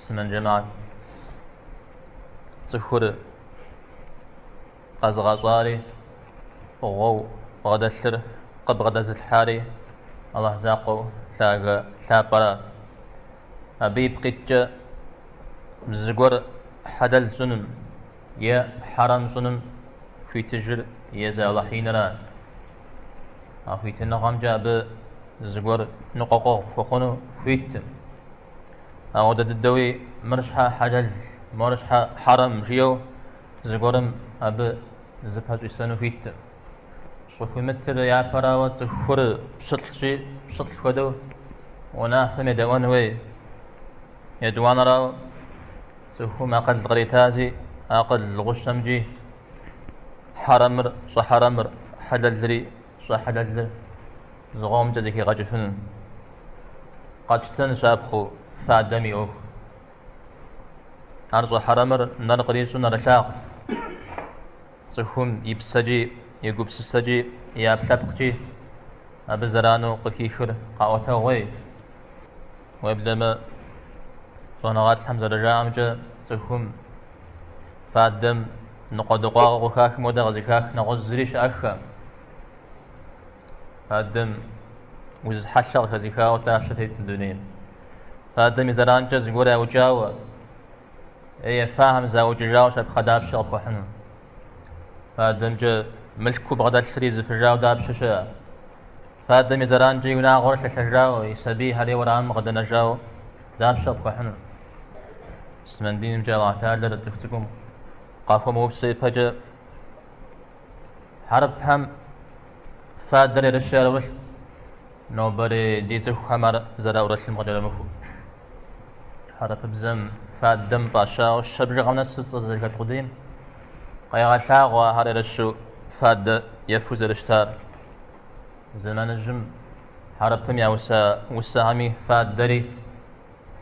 Муслъымэн джэмаӏэт, цӏыхур къэзыгъэщӏари фӏыгъуэу бгъэдэлъыр къыбгъэдэзылъхьари Алыхь закъуэу лъагэ лъапӏэра. Абы ипкъ иткӏэ зыгуэр хьэлэл щӏыным е хьэрэм щӏыным хуитыжыр езы Алыхь инра. А хуитыныгъэмкӏэ абы зыгуэр ныкъуэкъуэгъу хуэхъуну хуиткъым. Апхуэдэ дыдэуи мыр щхьэ хьэлэл, мор щхьэ хьэрэм жиӏэу зыгуэрым абы зыпэщӏисэну хуиткъым. Щӏыхуимытыр япэрауэ цӏыхур пщылӏщи, пщылӏ хуэдэу унафэм едэӏуэн хуей. Етӏуанэрау цӏыхум акъыл къритази, акъыл гъущэмкӏи хьэрэмыр щӏэхьэрэмыр, хьэлэлри щӏэхьэлэлыр зыкъомкӏэ зэхигъэкӏыфыну. Къэтщтэн щапхъэу фадэм и ӏуэху. Ар щӏэхьэрэмыр нэр кърищӏу нэрылъагъу. Цӏыхум и псэкӏи, и гупсысэкӏи, и ӏэпкълъэпкъкӏи абы зэрану къыхихыр къэӏуэтэгъуей. Уеблэмэ, щӏэныгъэлӏхэм зэрыжаӏэмкӏэ, цӏыхум Фадэм ныкъуэдыкъуагъэ къыхахым хуэдэ къызыхах нэгъуэщӏ зыри щыӏэххэкъым. Фадэм уз хьэлъэ къыхэзыхауэ дапщэ тетым дунейм? Фадэм и зэранкӏэ зыгуэр яукӏауэ, е ефахэм заукӏыжауэ щапхъэ дапщэ къыпхуэхьыну? Фадэмкӏэ мылъку бгъэдэлъри зыфыжауэ дапщэ щыӏэ? Фадэм и зэранкӏэ и унагъуэр лъэлъэжауэ, и сабийхэр е уэрамым къыдэнэжауэ Дапщэ къыпхуэхьыну? Муслъымэн динымкӏэ Аллаху Тэӏалэр цӏыху цӏыкӏум къахуэмыупсэ ипэкӏэ хьэрыпхэм фадэр ерыщу яӏурылъ, нобэрей ди цӏыхухэм ар зэраӏурылъым къыкӏэрымыхуу. Хьэрыпыбзэм фадэм фӏащауэ щэ бжыгъэм нэсу цӏэ зэрыхэт къудейм къегъэлъагъуэ ахэр ерыщу фадэ ефу зэрыщытар. Зэманыжьым Хьэрыпым яуса усэхэми фадэри,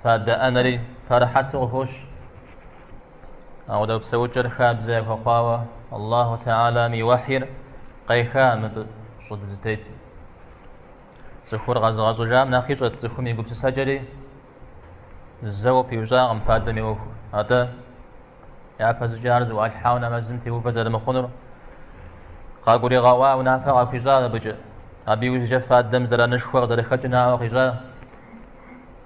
фадэ ӏэнэри пэрыхьэту къыхощ. Апхуэдэ псэукӏэр хабзэ яхуэхъуауэ Аллаху Тэӏалэм и уэхьир къеха мыбы щӏы дызытетым. Цӏыхур къэзыгъэщӏыжам нэхъ ищӏэт цӏыхум и гупсысэкӏэри, зэуэ пиущӏакъым фадэм и ӏуэхур. Атӏэ, Япэщӏыкӏэ ар зыӏуалъхьауэ нэмэзым теувэ зэрымыхъунур къагуригъэӏуа, унафэ къахуищӏа абыкӏэ. Абы иужькӏэ фадэм зэранышхуэ къызэрыхэкӏыр наӏуэ къищӏа.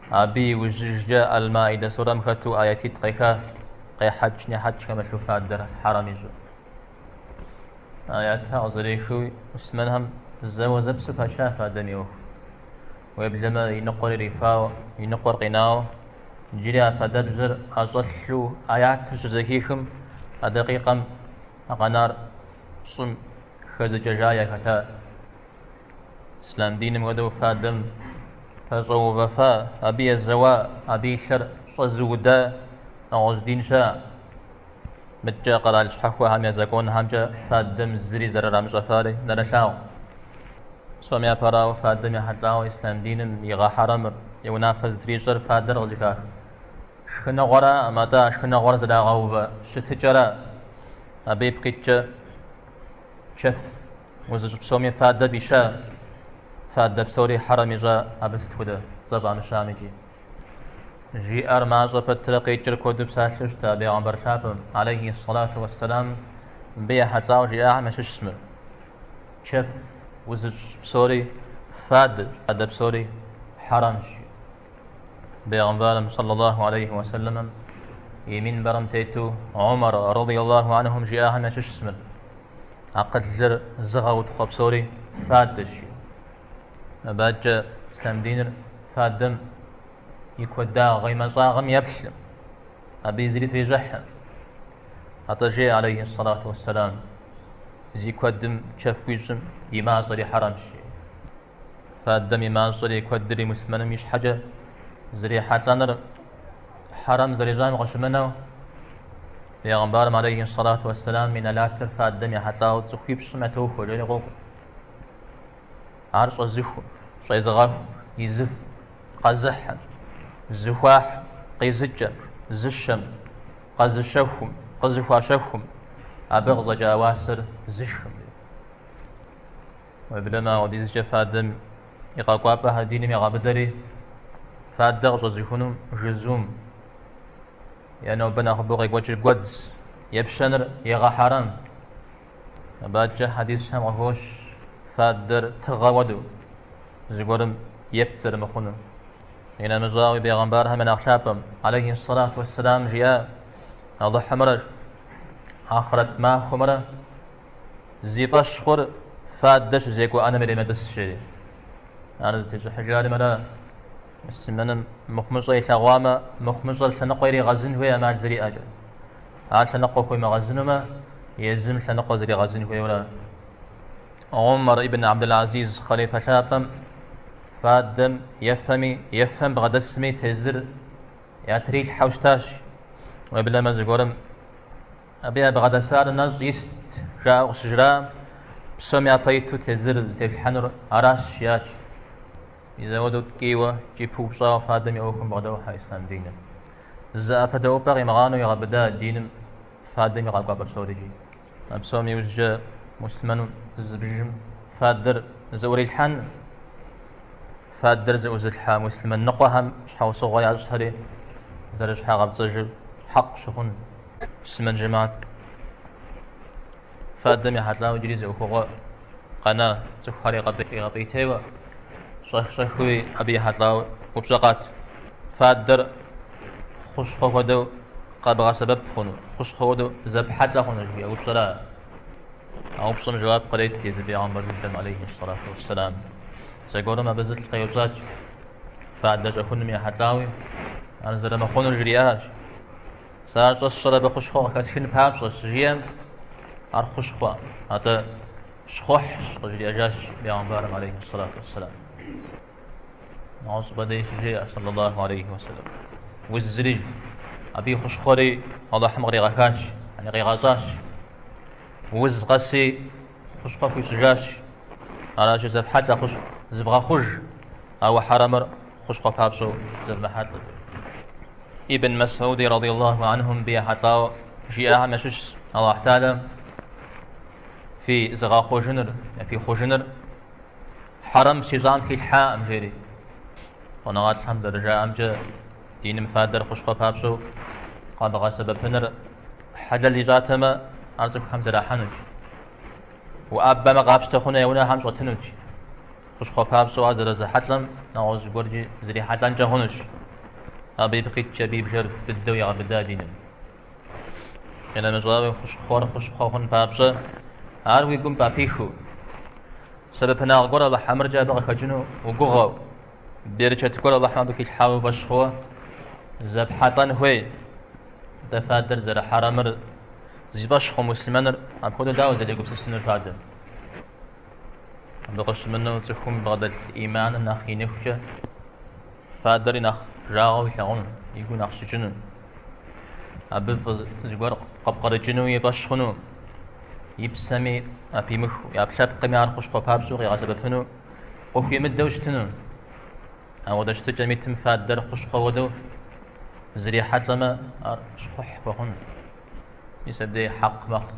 Абы иужькӏэ Аль-Маидэ сурэм хэту аятитӏ къеха, къехьэкӏ-нехьэкӏ хэмылъу фадэр хьэрэм ищӏу. Аятхэр къызэрехыуи, муслъымэнхэм зэуэзэпсэу пача фадэм и ӏуэху. Уеблэмэ, и ныкъуэр ирифауэ, и ныкъуэр къинауэ, Иджыри а фадэбжьэр ӏэщӏэлъу аятыр щызэхихым, а дакъикъэм а къэнар щӏым хэзыкӏэжа яхэта. Ислам диным хуэдэу фадэм пэщӏэувэфа, абы езэуа, абы и лъэр щӏэзыуда нэгъуэщӏ дин щыӏа? Мыдэкӏэ къэрал щхьэхуэхэм я законхэмкӏэ фадэм зыри зэрырамыщӏэфари нэрылъагъу. Псоми япэрауэ фадэм ехьэлӏауэ ислъам диным игъэхьэрэмыр, и унафэ зытрищӏэр фадэр къызыхах шхыныгъуэраӏым, атӏэ а шхыныгъуэр зэрагъэувэ щытыкӏэра. Абы ипкъ иткӏэ чэф узыщӏ псоми фадэ фӏища, фадэ псори хьэрэм ищӏа, абы сыт хуэдэ цӏэ фӏамыщам икӏи. Жиӏэр мащӏэ пэтрэ къикӏыр куэду псалъэу щыта Бегъымбар лъапӏэм, алейхи салату вассалам, мыбы ехьэлӏауэ жиӏагъэм ящыщ мыр. Чэф узыщӏ псори фадэщ, фадэ псори хьэрэмщ. Бегъымбарым саллаллаху алейхи вассалэмэм и минбэрым тету Умар радиаллаху анхум жиӏагъэм ящыщ мыр. Акъылыр зыгъэутхъуэ псори фадэщ. Абы адэкӏэ ислъам диныр фадэм и куэдагъ и мащӏагъэм еплъӏым, абы зыри трищӏыхьӏым. Атӏэ жеӏэ алейхи сэлату уссэлам, зи куэдым чэф уищӏым и мащӏэри хьэрэмщ. Фадэм и мащӏэри и куэдри мусмэным и щхьэкӏэ зэрихьэлӏэныр хьэрэм зэрищӏам къыщымынэу, Бегъымбарым алейхи сэлату уссэлам и нэлатыр фадэм ехьэлӏауэ цӏыхуипщӏым ятохуэ, жери къокӏуэ. Ар щӏэзыхум, щӏезыгъэху, изыф, къэзыхьым, зыхуахь, къизыкӏэм, зыщэм, къэзыщэхум, къызыхуащэхум, абы къыщӏэкӏа уасэр зышхым. Уеблэмэ апхуэдизкӏэ фадэм и къэкӏуапӏэхэр диным егъэбыдэри, фадэ къыщӏэзыхунум жызум е нобэ нэхъыбэу къекӏуэкӏыр гуэдз, епщэныр егъэхьэрэм. Абы адэкӏэ хьэдисхэм къыхощ фадэр тыгъэ хуэдэу, зыгуэрым епт зэрымыхъунур. Инэмыщӏауи, бегъымбархэм я нэхъ лъапӏэм, алейхи сэлату уэсселам, жиӏа, Алыхьымрэ ахърэт махуэмрэ зи фӏэщ хъур фадэ щызекӏуэ ӏэнэм иремытӏыс, жери. Ар зытещӏыхьыжари мыра: Мусмэным мыхъумыщӏэ илъэгъуамэ, мыхъумыщӏэр лъэныкъуэ иригъэзын хуей ӏэмал зэриӏэкӏэ. Ар лъэныкъуэ хуемыгъэзынумэ, езым лъэныкъуэ зригъэзын хуейуэ ара. Умар ибн Абдул-Азиз хъалифэ лъапӏэм фадэм ефэми, ефэм бгъэдэсми тезыр ятрилъхьэу щытащ. Уеблэмэ зыгуэрым абы ябгъэдэсар нэщӏ ист, жаӏэу къыщыжраӏэм, псом япэ иту тезыр зытеплъхьэнур аращ, жиӏащ. Мис ауэдэу ткӏийуэ, икӏи пыупщӏауэ фадэм и ӏуэхум бгъэдохьэ ислъам диныр. Зы ӏэпэдэӏупӏэ къимыгъанэу егъэбыдэ диным фадэм и къэкӏуапӏэ псорикӏи. А псом иужькӏэ муслъымэну зызыбжыжым фадэр зыӏурилъхьэн, фадэр зыӏузылъхьа муслъымэн ныкъуэхэм щхьэусыгъуэ ящӏхэри зэрыщхьэгъэпцӏэжыр хьэкъ щыхъун. Муслъымэн жэмат фадэм ехьэлӏауэ иджыри зы ӏуэхугъуэ Къэна цӏыхухэр игъэпӏейтейуэ, щӏэх-щӏэхыуи абы ехьэлӏауэ упщӏэ къат, фадэр хущхъуэ хуэдэу къэбгъэсэбэп хъуну, хущхъуэ хуэдэу зэпхьэлӏэ хъуну жиӏэ упщӏэра? А упщӏэм жэуап кърет езы пегъымбар дыдэм, алейхи сэлату уэсселам. Зэгуэрым абы зы лӏы къеупщӏат, фадэ щӏэхуным ехьэлӏауи, ар зэрымыхъунур жриӏащ. Сэ ар щӏэсщӏэр абы хущхъуэ къыхэсхын папщӏэщ, щыжиӏэм, ар хущхъуэ, атӏэ щхъухьщ, къыжриӏэжащ Пэйгъэмбарым алейхи сэлату уэсселам. Нэгъуэщӏ щӏыпӏэ дей щыжеӏэ, сэллаллаху алейхи уэсэлэм. Узыри, абы и хущхъуэри Алыхьым къригъэхащ, яни къигъэщӏащ. Уз къэси хущхъуэ хуищӏыжащ. Аращи, зэфхьэлӏэ хущхъуэ, зывгъэхъуж ауэ хьэрэмыр. хущхъуэ папщӏэу зэвмыхьэлӏэ. Ибн Масуди радиаллаху анхум абы ехьэлӏауэ жиӏахэм ящыщщ Аллахь Тэхьэлэ фи зыгъэхъужыныр, фи хъужыныр хьэрэм фщищӏам хилъхьакъым жери. Щӏэныгъэлӏхэм зэрыжаӏэмкӏэ диным фадэр хущхъуэ папщӏэу къэбгъэсэбэпыныр хьэлэл ищӏатэмэ, ар цӏыхухэм зэрахьэнуч. Уӏэбэмэ къапщтэ хъуну я унэхэм щӏэтынуч. Хущхъуэ папщӏэу ар зэрызрихьэлӏэм нэгъуэщӏ зыгуэркӏи зрихьэлӏэнкӏэ хъунущ. Абы ипкъ иткӏэ абы и бжэр быдэу егъэбыдэ диным. Къинэмыщӏауи, хущхъуэр хущхъуэ хъун папщӏэ, ар уи гум папихыу, сэбэпынагъ гуэр Алыхь ӏэмыркӏэ абы къыхэкӏыну угугъэу, берычэт гуэр Алыхьым абы хилъхьауэ уи фӏэщ хъууэ зэпхьэлӏэн хуей. Атӏэ фадэр зэрыхьэрамыр зи фӏэщ хъу муслъымэныр апхуэдэу дауэ зэрегупсысынур фадэм? Абы къыщымынэу цӏыхум бгъэдэлъ иманыр нэхъ иныхукӏэ фадэри нэхъ жагъуэу илъагъуну, и гур нэхъ щыкӏыну, абы фӏы зыгуэр къыпкърыкӏыну и фӏэщ хъуну, и псэми апимыху, и ӏэпкълъэпкъми ар хущхъуэ папщӏэу къигъэсэбэпыну, къыхуимыдэу щытыну. Ауэдэ щытыкӏэм итым фадэр хущхъуэ хуэдэу зрихьэлӏэмэ, ар щхъухь хуэхъуну, мис абдеж хьэкъ мэхъу.